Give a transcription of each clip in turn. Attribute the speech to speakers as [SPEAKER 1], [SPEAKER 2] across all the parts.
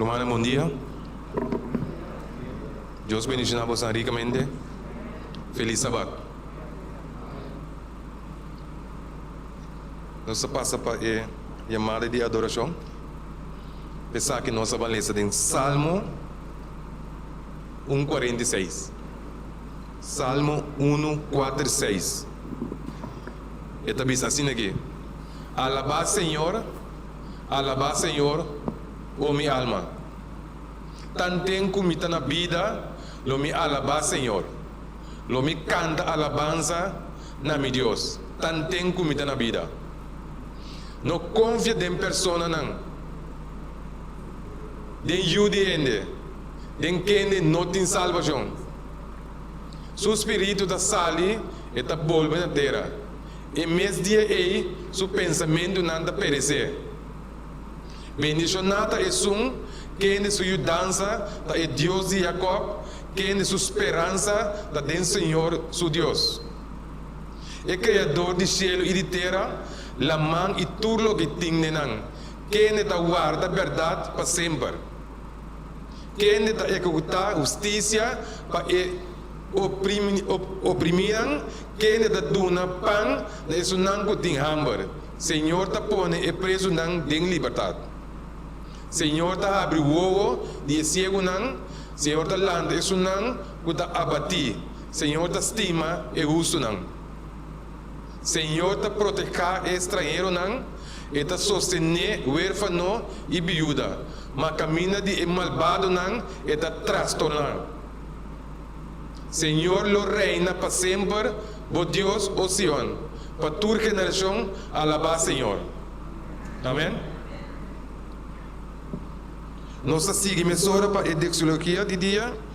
[SPEAKER 1] Rumannan bondia. Dios bendiciona bosan ricamente. Feliz Sabat. Nos ta pasa pa e yamada di adoracion. Esaki nos a balesa den Salmo un kuarenta i seis. Salmo unu, kuater i seis. E ta bisa asina ke, Alabá Señor, alabá Señor, o mi alma. Tanten ku mi ta na bida, lo mi alabá Señor. Lo mi kanta alabansa na mi Dios, tanten ku mi ta na bida. No konfia den personanan, den yu di hende, den kende no tin salbashon. Su spiritu ta sali, e ta bolbe na tera. E mes dia ei su pensamentunan ta peresé. Bendishoná ta esun kende su yudansa ta e Dios di Jakòb, kende su speransa ta den Señor su Dios. E Kreadó di shelu i di tera, laman i tur loke tin den nan, kende ta warda bèrdat pa semper, kende ta ekekutá hustisia pa e opriminan, kende ta duna pan na esunnan ku tin hamber, Señor ta pone e presunan den libertat. Señor ta habri wowo di e siegunan, Señor ta lanta esunnan Ku ta abatí, Señor ta stima e hustunan. Señor ta proteká e stranheronan, E ta sostené wérfano i biuda, Ma kaminda di e malbadonan e ta trastorná. Señor lo reina pa semper, Bo Dios, o Sion, pa tur generashon a labá Señor. Amèn. Nos a sigui mesora pa e deksologia di dia.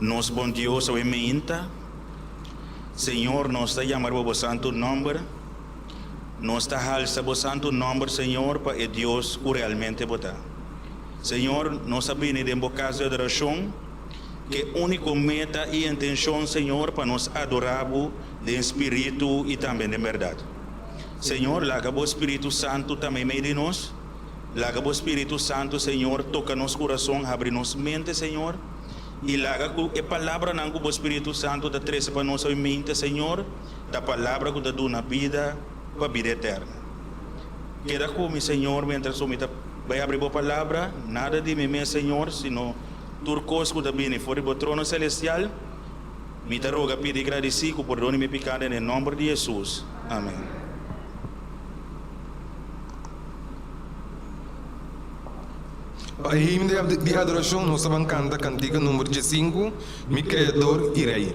[SPEAKER 1] Nos Bon Dios oe minta, Señor, nos ta yamar pa bo santu nòmber. Nos ta halsa bo santu nòmber, Señor, pa e Dios ku realmente bo ta. Señor, nos a bini den bo kas di adorashon. Cu e unico meta y intencion, Señor, pa nos adora Bo den spiritu y tambe den berdad. Señor, laga Bo Spiritu Santo ta meimei di nos. Laga Bo Spiritu Santo, Señor, toca nos curason, habri nos mente, Señor, y laga cu e palabranan cu Bo Spiritu Santo ta trece pa nos oy mente, Señor, ta palabra cu ta duna bida pa bida eterna. Keda cu mi, Señor, mientras cu mi ta bay habri Bo Palabra, nada di mi mes, Señor, sino, Tur kos ku ta bini for di bo trono selestial, mi ta roga, pidi i gradisí ku pordone mi piká den e nòmber di Hesus. Amèn. Pa e himno di adorashon nos a ban kanta kantika number diesinku, Mi Kreador i Rei.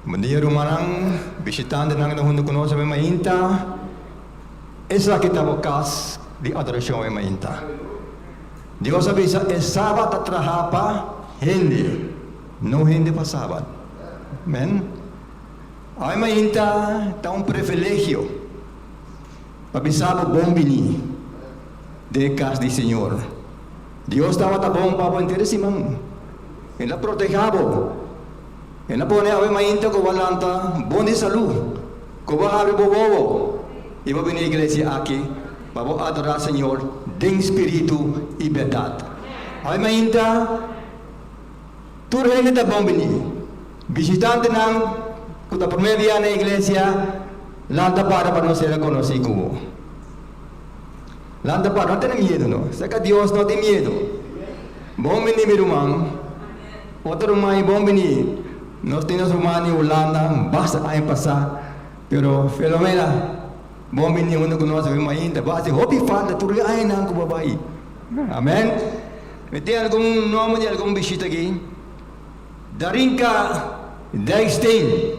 [SPEAKER 1] Bon dia rumannan, bishitantenan ku ta hunde ku nos awor mainta. Esaki ta bo kas di adorashon awor mainta. Dios a bisa e Sabat ta traha pa hende, no hende pa Sabat. Amen. Awor mainta ta un privilegio pa bisa bo bon bini den e kas di Señor. Dios tabata bon ku abo entera siman. El a protehá abo. El a pone awe mainta ku bo a lanta bon di salú, ku bo a habri bo wowo i bo a bini iglesia aki pa bo adorá Señor den spiritu i bèrdat. Awe mainta tur hende ta bon bini. Bishitantenan ku ta promé bia na iglesia lanta para pa nos ser a konosí ku bo. Lanta pa no tene miedu no. Sa ka Dios no tin miedu. Bon bini mi ruman. Oto ruman i bon bini. Nos tin nos ruman di Hulanda basta aña pasa pero Filomena bon bini huntu ku nos bai mainta basi hopi falta tur e añanan ku bo bai. Amen. Mi tin algun nomber di algun bishita aki. Darinka Dijksteen.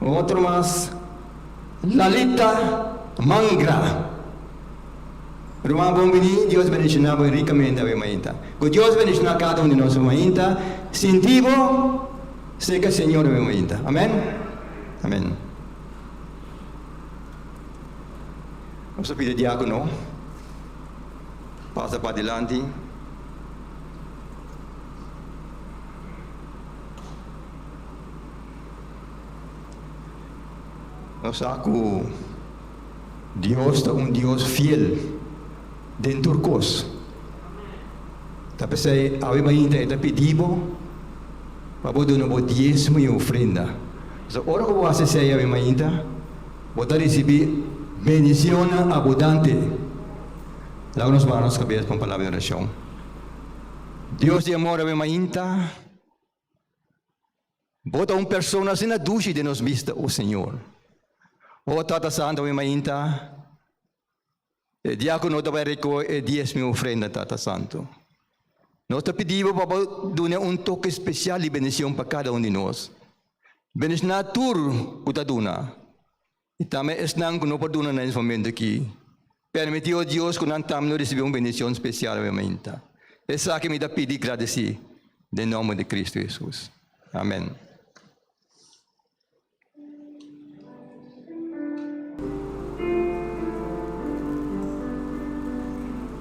[SPEAKER 1] Un otro mas, Lalita Mangra. Ruman bon bini, Dios bendiciona bo ricamente awe mainta. Cu Dios bendiciona cada un di nos awe mainta, sinti bo seca Señor awe mainta. Amen. Amen. Nos a pidi diacono pasa pa dilanti. Nos sa cu Dios ta un Dios fiel den tur cos. Ta pesey awebainta e ta pidi bo pa bo duna bo diezmo y ofrenda. Pasobra ora cu bo haci esey awebainta, bo ta ricibi bendicionnan abudante. Laga nos baha nos cabes pa un palabra di oracion. Dios di amor, awebainta Bo ta un persona asina dushi den nos bista, o Señor. O Tata Santu, mi mainta, e dia ku no ta bai rikohe e diezmo i ofrenda, Tata Santu, nos ta pidi Bo pa Bo duna un toke spesial di bendision pa kada un di nos. Bendishoná tur ku ta duna. I tambe esnan ku no por duna na es momentu aki, permitió Dios ku nan tambe lo risibí un bendishon spesial hopi mainta. Esaki mi ta pidi gradisí den nòmber di Kristu Hesus. Amèn.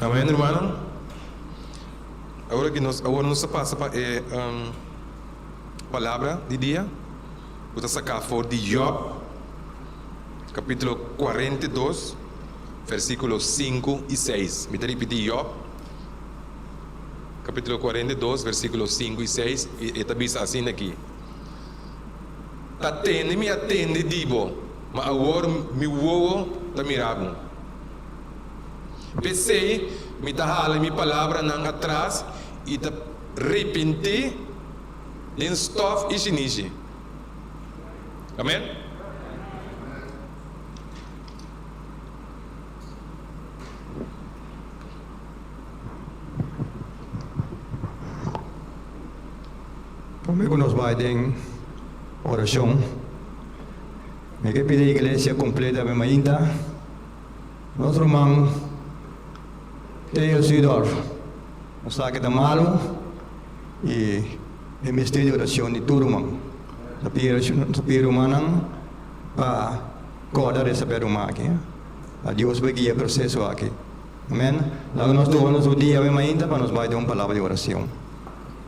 [SPEAKER 1] Amen, hermanonan. Awor aki nos, awor nos ta pasa pa e palabra di dia cu ta saca for di Job, capitulo cuarenta y dos, versiculo sinku y seis. Mi ta ripiti, Job, capitulo cuarenta y dos, versiculo sinku y seis, y e ta bisa asin aki. ta tende mi a tende di bo, ma awor mi wowo ta mira bo. P'esei mi ta hala mi palabranan atras i ta ripintí den stòf i sinishi. Amen. Promé ku nos bai den orashon, mi ke pidi Iglesia kompleta mi mainta nos ruman Theo Zuidorf, un sa ke ta malu i e mester di orashon di tur ruman. Ta pidi rumannan pa kòrda di e sapè ruma aki. A Dios por guia e proseso aki. Amèn. Laga nos tuha nos un dia mi mainta pa nos bai den un palabra di orashon.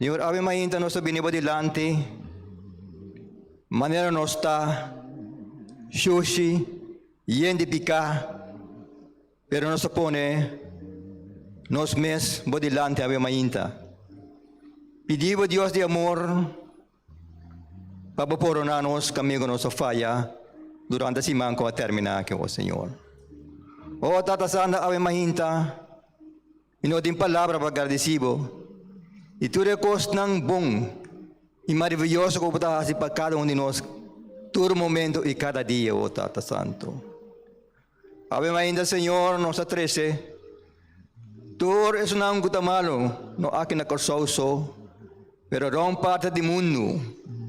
[SPEAKER 1] Señor, awe mainta nos a bini bo dilanti, manera nos ta, shushi, yen di piká, pero nos a pone nos mes bo dilanti awe mainta. Pidi bo Dios di amor pa bo poroná nos kamigo nos a faya durante siman ku a terminá aki, o Señor. O Tata Santa, awe mainta, Mi no tin palabra pa gardisí bo di tur e kosnan bon i maraviyoso ku bo ta hasi pa kada un di nos tur momentu i kada dia, o Tata Santu. Awe mainda, Señor, nos a trese tur esnan ku ta malu, no aki na Kòrsou so, pero rònt parti di mundu,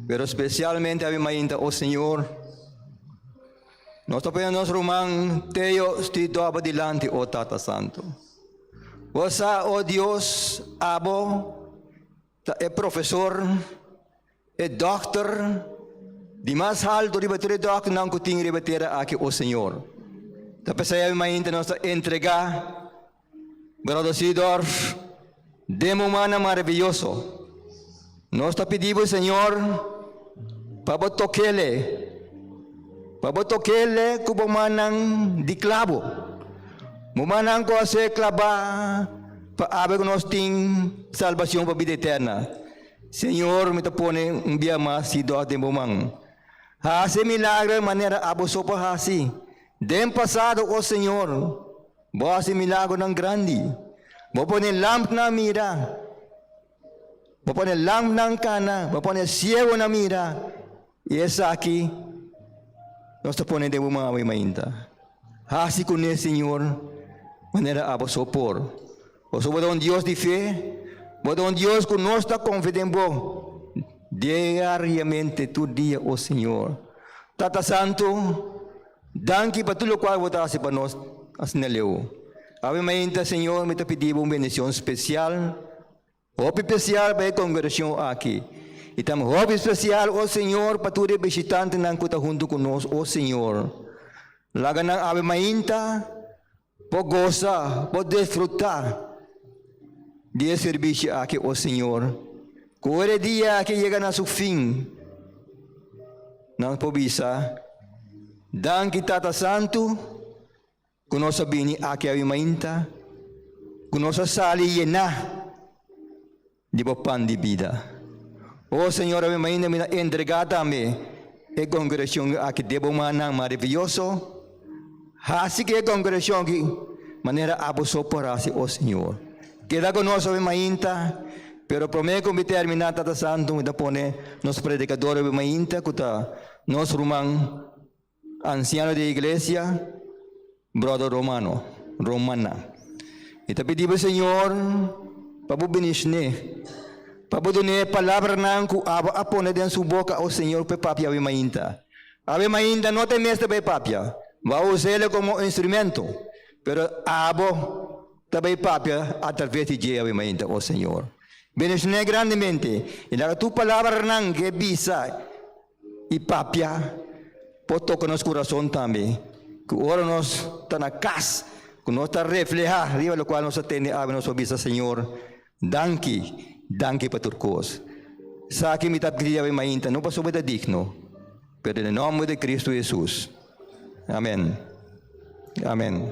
[SPEAKER 1] pero spesialmente awe mainda, o Señor, Nos ta pone nos ruman Teo Stidoba dilanti, o Tata Santu. Bo sa, o Dios, abo ta e profesor, e dokter, di mas haltu riba tur e dokternan ku tin riba tera aki, o Señor. Ta p'esei bai mainta nos ta entregá Gradosidor den mumannan maraviyoso, nos ta pidi bo Señor pa bo tokel'e, pa bo tokel'e ku bo mannan di klabo, mumannan ku a ser klabá pa aber ku nos tin salbacion pa bida eterna. Señor mi ta pone un bia mas sidor den bo man. Haci e milagro manera abo so por haci den pasado, oh Señor. Bo a hasi milagronan grandi. Bo pone lampnan mira. Bo pone lampnan kana. Bo pone siegonan mira. I esaki nos ta pone den bo man awe mainta. Hasi kuné, Señor, manera abo so por. Pasobra bo ta un Dios di fe, bo ta un Dios ku nos ta konfia den bo diariamente, tur dia. O Señor, Tata Santu, danki pa tur lokual bo ta hasi pa nos asina leu. Awe mainta, Señor, mi ta pidi bo un bendishon spesial, hopi spesial pa e kongregashon aki, i tambe hopi spesial, o Señor, pa tur e bishitantenan ku ta huntu ku nos. O Señor, laga nan awe mainta. Bo gosa, bo disfrutá di e sirbishi aki, o Señor. Ku ora e dia aki yega na su fin, nos por bisa, Danki, Tata Santu, ku nos a bini aki awi mainta, ku nos a sali yená di bo pan di bida. O Señor, ami mainta mi ta entregá tambe e kongregashon aki den bo mannan maravioso. Hasi ku e kongregashon aki manera Abosó por hasi, o Señor. Keda ku nos obi mainta, pero promé ku mi terminá, Tata Santu, mi ta pone nos predikadornan obi mainta ku ta nos ruman Ansiano di e iglesia, bròder romano, romana, mi ta pidi bo Señor pa bo bini shné, pa bo dun'é palabranan ku abo a pone den su boka, o Señor, p'e papia awe mainta. Awe mainta no ta e mester pa e papia, bo a us'el komo un instrumento, pero abo ta bai papia atraves di dje awe mainta, o Señor. Bini shné grandemente i laga tur palabranan ke bisa i papia por toka nos kurason tambe, ku ora nos ta na kas, ku nos ta reflehá riba lokual nos ta tende algu, nos por bisa, Señor, danki, danki pa tur kos. Esaki mi ta pidi Diab'e mainta, no pasobra mi ta digno, pero den e nòmber di Kristu Hesus. Amèn. Amèn.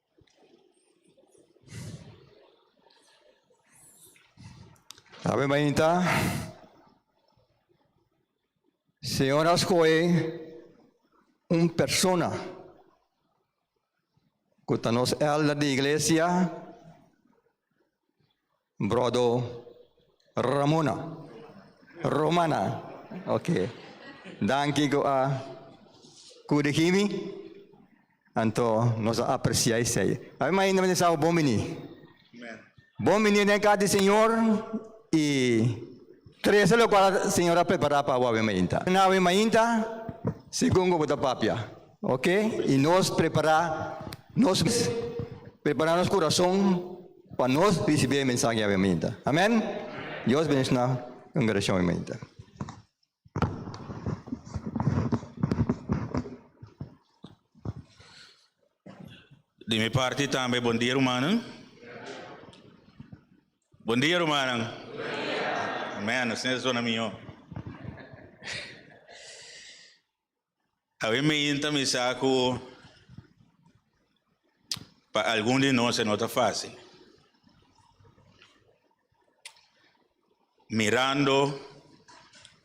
[SPEAKER 1] Awe mainta. Señor a scoge un persona cu ta nos elder di iglesia. Brodo Ramona. Romana. Ok. Danki ku a kude Himi. Anto nos a apresiá esei. Awe mas ainda mi ta sabi bon bini. Bon bini den kas di Señor i trese lokual Señor a prepará pa bo awe mainta. Na awe mainta segun ku bo ta papia, oke? I nos prepará nos mes, prepará nos kurason. pa nos risibí e mensahe di aviamentu. Amen. Dios bendiciona congregacion hebraica. Di mi parti tambe bon dia rumannan. Bon dia rumannan. Amen, nos tin e zona mihó. A wi mi yinta mi sa ku pa algun di nos e no ta fásil. Mirando,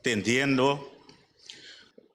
[SPEAKER 1] tendiendo,